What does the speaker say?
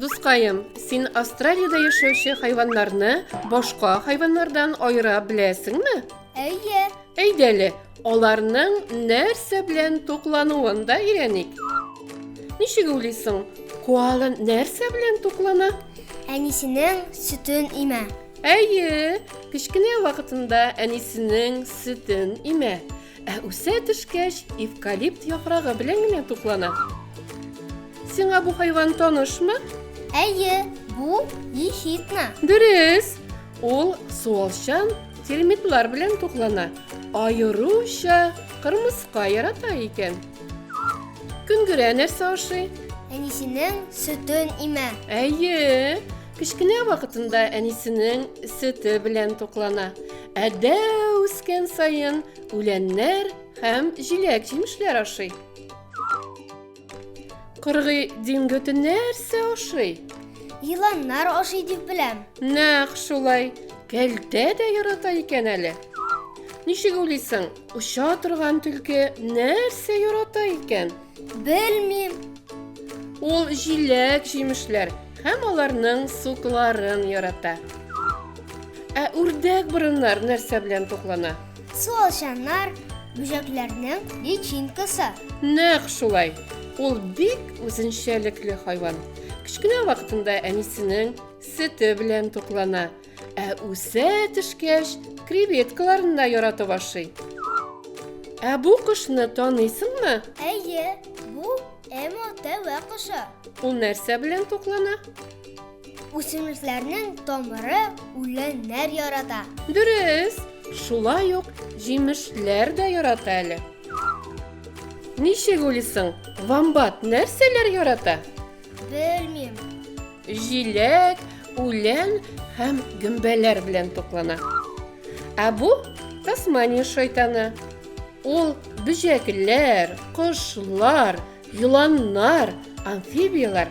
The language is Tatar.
Дускаем, син Австралиядә яшәүче хайваннарны башка хайваннардан аера беләсеңме? Әйе, Әйдәле, аларның нәрсә белән туклануын да өйрәник. Ничек уйлыйсың, коала нәрсә белән туклана? Әнисенең сөтен имә. Әйе, кечкенә вакытында әнисенең сөтен имә. Ә үсә төшкәч, эвкалипт яфрагы белән генә туклана. Сиңа бу хайван танышмы? Әйе, бу ехидна. Дөрес. Ул суалчан термитлар белән туклана, аеруча кырмыска ярата икән. Көнгерә нәрсә ашый? Әнисенең сөтен имә. Әйе, кечкенә вакытында әнисенең сөте белән туклана. Ә дәү үскән саен үләннәр һәм җиләк-җимешләр ашый. Кыргый диңгети нәрсә ашый? Еланнар ашый дип беләм. Нәкъ шулай. Кәлтә дә ярата икән әле. Ничек уйлыйсың, оча торган төлке нәрсә ярата икән? Белмим. Ул җиләк җимешләр һәм аларның сукларын ярата. Ә үрдәк борыннар нәрсә белән туклана? Суалчаннар, бүҗәкләрнең личинкасы. Нәкъ шулай. Ул бик үзенчәлекле хайван. Кечкенә вакытында әнисенең сөте белән туклана, ә үсә төшкәч, креветкаларын да яратып ашый. Ә бу кошны таныйсыңмы? Әйе, бу эмо тәвә кошы. Ул нәрсә белән туклана? Үсемлекләрнең тамыры үләннәр ярата. Дөрес, шулай ук җимешләр дә ярата әле. Ничек уйлыйсың, вамбат нәрсәләр ярата? Белмим. Җиләк, үлән һәм гөмбәләр белән туклана. Ә бу Тасмания шайтаны. Ул бөҗәкләр, кошлар, еланнар, амфибияләр